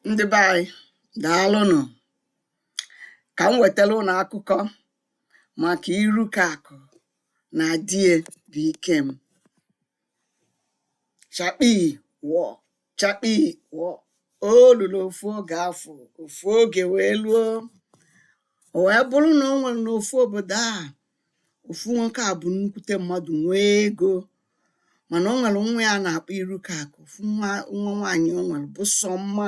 ndị be anyị daalụnụ ka m wetara ụnụ akụkọ maka irukaakụ na di ya bụ ikem chakpi wọ chakpi wọ o luru ofu oge afọ ofu oge wee luo o wee bụrụ na o nwere n'ofu obodo a ofu nwoke a bụ nnukwute mmadụ nwee ego mana o nwere nwa ya a na-akpọ irukaakụ ofu nwa nwa nwaanyị o nwere bụ sọ mma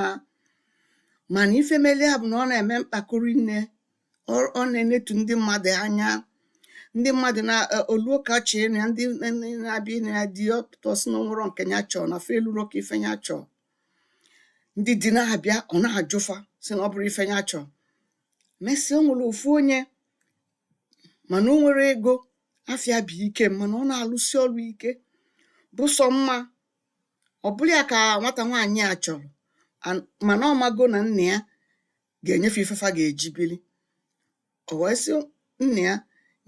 mana ife mele ya bụ na ọ na-eme mpako ri nne ọ ọ na-enetu ndị mmadụ anya ndị mmadụ na o luo ka a chọọ ịnụ ya ndị ndị na-abịa ịnụ ya di ya ọ pụta ọ sị na o nwerọ nke ya chọọ na fa eluro ka ife ya chọọ ndị di na-abịa ọ na-ajụ fa sị na ọ bụrọ ife ya chọọ mesịa o nwere ofu onye mana o nwerọ ego afa ya bụ ikem mana ọ na-alụsi ọrụ ike bụ sọ mma ọ bụrụ ya ka nwata nwaanyị a chọrọ and mana ọ mago na nna ya ga-enye fa ife fa ga-eji bili o wee sị nna ya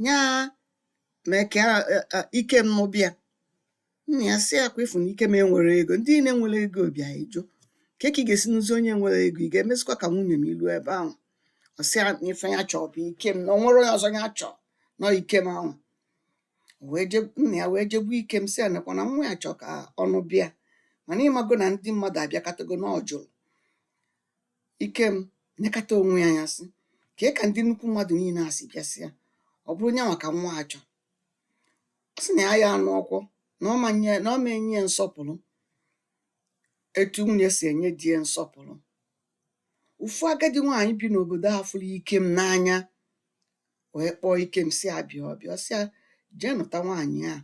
nya mee ka ikem nụba ya Nna ya sị ya ọkwa ị fụ na Ikem enwerọ ego, ndị niile nwere ego bịa ị jụ. Kee ka ị ga-esi nụzie onye enwerọ ego, ị ga-emezikwa ka nwunye ma i luo ebe ahụ. Ọ sị ya na ife ya chọọ bụ Ikem, na o nwerọ onye ọzọ ya chọọ, na ọ Ikem ahụ. Wee je nna ya wee jekwu Ikem sị ya nekwa na nwa ya chọọ ka ọ nụba ya. Mana ị mago na ndị mmadụ abịakatago na ọ jụrụ. Ikem nekata onwe ya anya sị, kee ka ndị nnukwu mmadụ niile a si bịasịa, ọ bụrụ nya nwa ka nwa a chọrọ. ọ sị na ya ya nụọkwa na ọ ma nye na ọ ma enye ya nsọpụrụ etu nwunye si enye di ya nsọpụrụ ofu agadi nwaanyị bi n'obodo a fụrụ ikem n'anya wee kpọọ ikem sị ya bịa ọ bịa ọ sị ya jee nụta nwaanyị a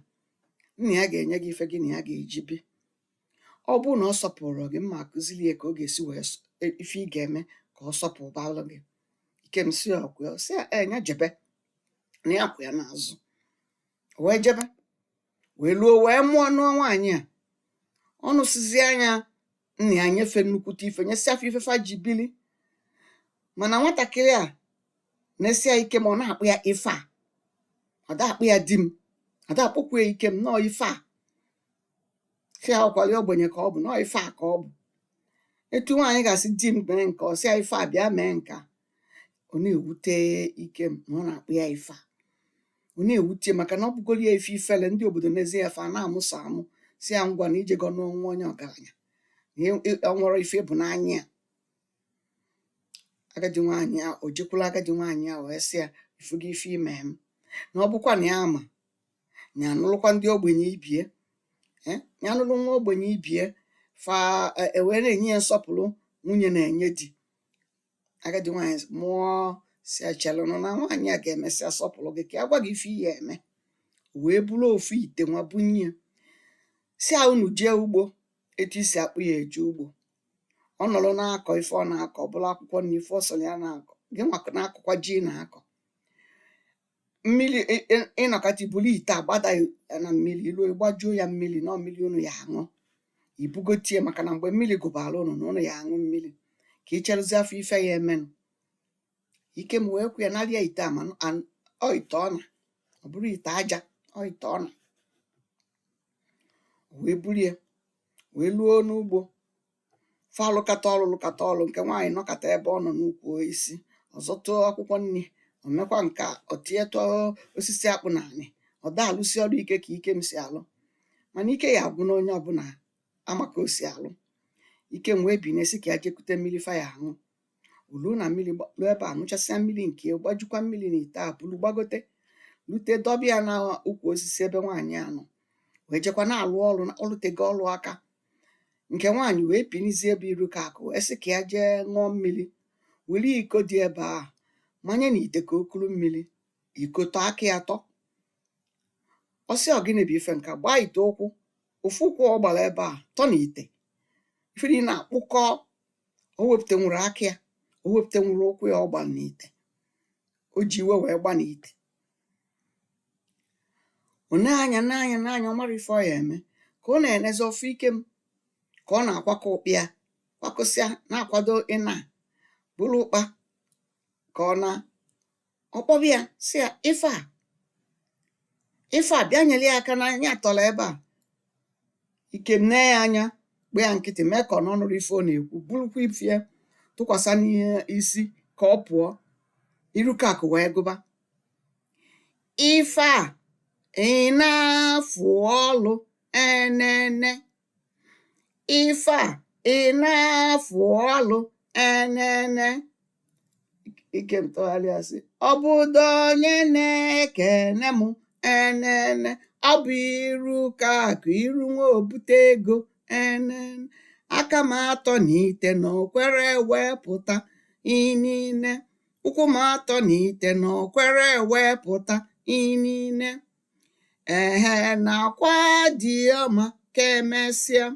nna ya ga-enye gị ife gị na ya ga-eji bi ọ bụrụ na ọ sọpụrọ gị mụ akụziri ya ka ọ ga-esi wee s- e- ife ị ga-eme ka ọ sọpụbalụ gị ikem sị ọkwa sị ya ee ya jebe na ya kwụ ya n'azụ O wee jebe wee luo wee mụọ nụọ nwaanyị a ọ nụsịzịa ya nna ya nye fa nnukwute ife nyesịa fa ife fa ji bili mana nwatakịrị a na-asị ya ikem ọ na-akpọ ya ife a ọ da-akpọ ya di m ọ da-akpọkwu ya ikem na ọ ife a sị ya ọkwali ogbenye ka ọ bụ na ọ ife a ka ọ bụ etu nwaanyị ga-asị di m mee nke a ọ sị ya ife a bịa mee nke a ọ na-ewute Ikem na ọ na-akpụ ya ife a ọ na-ewute maka na ọ bụgoro ya ife ifele ndị obodo nezie ya fa na-amụsa amụ sị ya ngwanụ i jego nụọ nwa onye ọgaranya na ị- ị- ọ nwere ife bụ n'anya ya agadi nwaanyị a o jekwuru agadi nwaanyị a wee sị ya ị fụgo ife i me m na ọ bụkwa na ya ama na ya anụlụkwa ndị ogbenye ibe ya eh, ya anụlụ nwa ogbenye ibe ya fa e- e wee na-enye ya nsọpụlụ nwunye na-enye di agadi nwaanyị mụọ sị ya chelunụ na nwaanyị a ga-emesịa sọpụlụ gị ka ya gwa gị ife ị ya-eme O wee buru ofu ite nwa bunye ya sị ya unu jee ugbo etu i si akpụ ya eje ugbo ọ nọrọ na-akọ ife ọ na-akọ ọ bụrụ akwụkwọ nni ife ọ sọrọ ya na-akọ gị nwa na-akọkwa ji ị na-akọ mmiri ị- ị- ị nọkata i buru ite a gbada ya na mmiri i luo ị gbajuo ya mmiri na mmiri unu ya-aṅụ i bugote ya maka na mgbe mmiri gụbara unu na unu ya-aṅụ mmiri ka ị cherụzịa fụ ife ya-emenụ Ikem wee kwe ya nara ya ite a ma an- ọ ite ọna ọ bụrọ ite aja ọ ite ọna wee buru ya wee luo n'ugbo fa alụkata ọlụ lụkata ọlụ nke nwaanyị nọkata ebe ọ nọ n'ukwu osisi ọ zọtụ akwụkwọ nni o mekwa nke a o tinyetụ osisi akpụ n'anị ọ da-alụsi ọlụ ike ka Ikem si alụ mana ike ya agwụ na onye ọbụla ama ka o si alụ Ikem wee binie sị ka ya je kute mmiri fa ya-aṅụ o luo na mmiri luo ebe a ṅụchasịa mmiri nke ya gbajukwa mmiri na ite a buru gbagote lute dọba ya na ukwu osisi ebe nwaanyị a nọ wee jekwa na-alụ ọlụ na ọ lụtego ọlụ aka nke nwaanyị wee binizie bụ Irukaakụ wee sị ka ya jee ṅụọ mmiri were iko dị ebe a manye na ite ka o kuru mmiri iko tọ aka ya tọ ọ sị ọ gịnị bụ ife nke a gbaa ite ụkwụ ofu ụkwụ ọ gbara ebe a tọ na ite ife niile na-akpụkọ o wepụtanwurọ aka ya o wepụtanwurọ ụkwụ ya ọ gbara na ite o ji iwe wee gba na ite ọ na-anya na-anya na-anya ọ marọ ife ọ ya-eme ka ọ na-enezi ọ fụ Ikem ka ọ na-akwakọ ụkpa ya kwakọsịa na-akwado ịna buru ụkpa ka ọ na ọ kpọba ya sị ya ife a ife a bịa nyere ya aka na ya atọla ebe a Ikem nee ya anya gba ya nkịtị mee ka ọ na ọ nụrọ ife ọ na-ekwu burukwa ife ya tụkwasị n'isi ka ọ pụọ Irukaakụ wee gụba ife a ị na-afụ ọlụ enene ife a ị na-afụ ọlụ enene ikem tụgharịa sị ọ bụdụ onye na-ekene m enene ọ bụ iru ka akụ iru nwa ebute ego enene aka m atọ na ite na o kwerọ ewepụta enene ụkwụ m atọ na ite na okwere wepụta inine ehe na-akwa di ya ma ka emesịa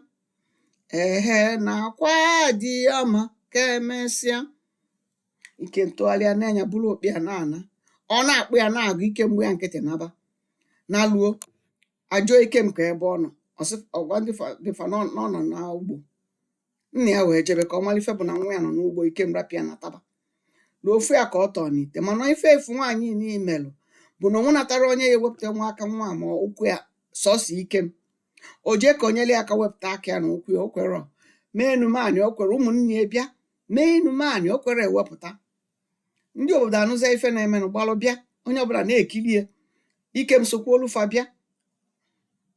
ehe na-akwa di ya ma ka emesịa ikem tụgharịa nee anya buru ọkpị ya na-ana ọ na-akpọ ya na-agụ ikem gbaa ya nkịtị naba naluo a jụọ ikem ka ebe ọ nọ ọ sị ọ gwa ndị fa- dị fa nọ nọ nọ n'ugbo Nna ya wee jebe ka ọ mara ife bụ na nwa ya nọ n'ugbo Ikem rapụ ya nataba. Ruo ọ fụ ya ka ọ tọọ n'ite mana ife efu nwaanyị niile melụ bụ na o nwenatarọ onye ya-ewepụtanwu aka nwa a ma ụkwụ ya sọsọ Ikem. O jee ka o nyere ya aka wepụta aka ya na ụkwụ ya o kwerọ. Mee enu mee anị o kwerọ ụmụnne ya bịa mee enu mee anị o kwerọ ewepụta. Ndị obodo anụzịa ife na-emenụ gbalụ bịa onye ọbụla na-ekiri ya. Ikem sokwuolu fa bịa.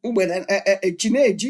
Mgbe e e e chi na-eji.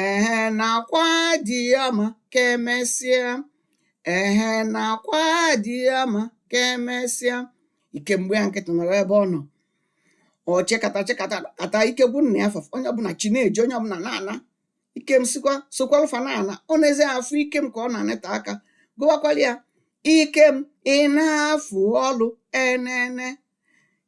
ehe na-akwa di ya ma ka emesịa ehe na-akwa di ya ma ka emesịa ikem gbaa ya nkịtị nọrọ ebe ọ nọ ọ chekata chekata kata ike gwụ nna ya fa onye ọbụla chi na-eji onye ọbụla na-ana ikem sokwa sokwalụ fa na-ana o nezie afụ ikem ka ọ na-aneta aka gụbakwalụ ya ikem ị na-afụ ọlụ enene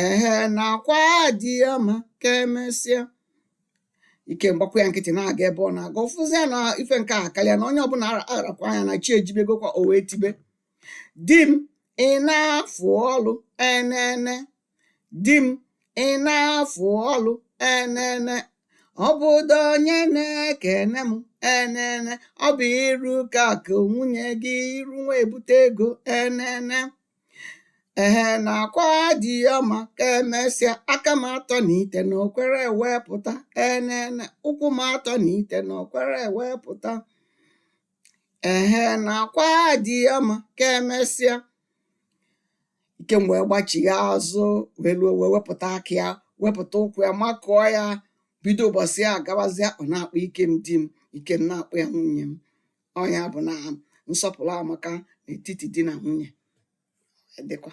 ehe na-akwa di ya ma ka emesịa ikem gbakwa ya nkịtị na-aga ebe ọ na-aga ọ fụzịa na ife nke a karịa na onye ọbụla arakwa anya na chi ejibegokwa o wee tibe di m ị na-afụ ọlụ enene di m ị na-afụ ọlụ enene ọ bụdụ onye na-ekene m enene ọ bụ iru ka akụ nwunye gị iru nwa ebute ego enene ehe na-akwa di ya ma ka emesịa aka m atọ na ite na o kwerọ ewepụta enene ụkwụ m atọ na ite na o kwerọ ewepụta ehe na-akwa di ya ma ka emesịa ikem wee gbachigha azụ wee ruo wee wepụta aka ya wepụta ụkwụ ya makụọ ya bido ụbọchị a gabazịa ọ na-akpọ ikem di m ikem na-akpọ ya nwunye m ọ ya bụ na nsọpụrụ amaka n'etiti di na nwunye dịkwa